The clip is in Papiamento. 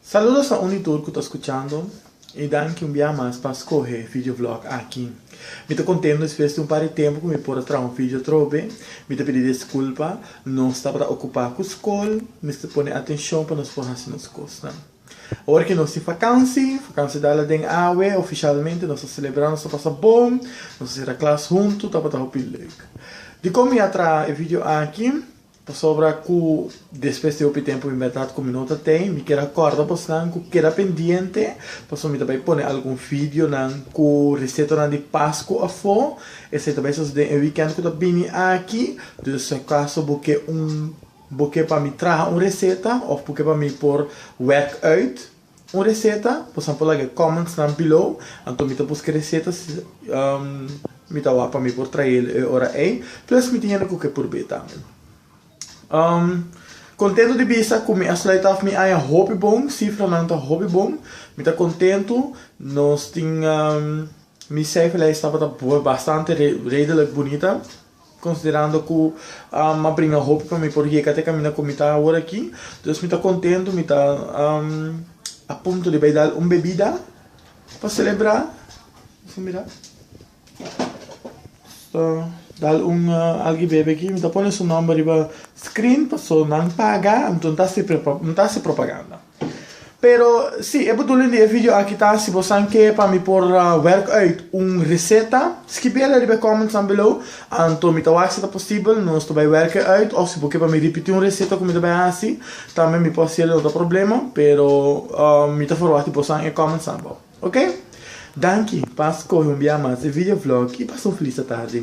Saludos a uni tur cu ta scuchando y danki un bia mas pa scohe e video vlog aki. Mi ta contento despues di un par di tempo cu mi por a traha un video atrobe. Mi ta pidi desculpa, nos tabata ocupa cu scol mester pone atencion pa nos por haci nos cosnan. Awor cu nos tin vakansi, vakansi dala den awe, oficialmente nos ta celebra, nos ta pasa bon, nos ta cera klas huntu, tabata hopi leuk. Dicon mi a traha e video aki? Pasobra ku despues di hopi tempu mi berdad ku mi no ta tei, mi kier a kòrda bosnan ku keda pendiente, pasobra mi ta bai pone algun videonan ku resetonan di Pasku afó. Esei ta bai sosodé e wikènt ku ta bini aki. Dus si acaso bo ke un, bo ke pa mi traha un reseta òf bo ke pa mi por wèk ùit, Un reseta, por example laga e comments nan below, anto mi ta busca recetas y mi ta wak pa mi por trael e ora ey, plus mi tin hende cu ke por be tambe. Contento di bisa cu mi a sluit af mi aña hopi bon, cifranan ta hopi bon, mi ta contento, nos tin mi cijferlijst tabata bastante redelijk bunita. Considerando cu a bringa hopi pa mi por yega te camina cu mi ta awor aki, dus mi ta contento, mi ta a punto di bay dal un bebida pa celebra, deja mira, ta dal un algi bebe aki, mi ta pone su nomber riba screen, paso nan paga, anto no ta haci propaganda. Pero si, e bedoeling di e video aki ta si bo san ke pa mi por werk uit un reseta, skibi el riba e comments nan below, anto mi ta wak si ta posibel nos ta bai werk e uit of si bo ke pa mi ripiti un reseta ku mi ta bai hasi, tambe mi por hasi el no ta problema, pero mi ta ferwachta bo san e comments nan abou. Ok? Danki pa skohe un bia mas e video vlog i pasa un felis atardi.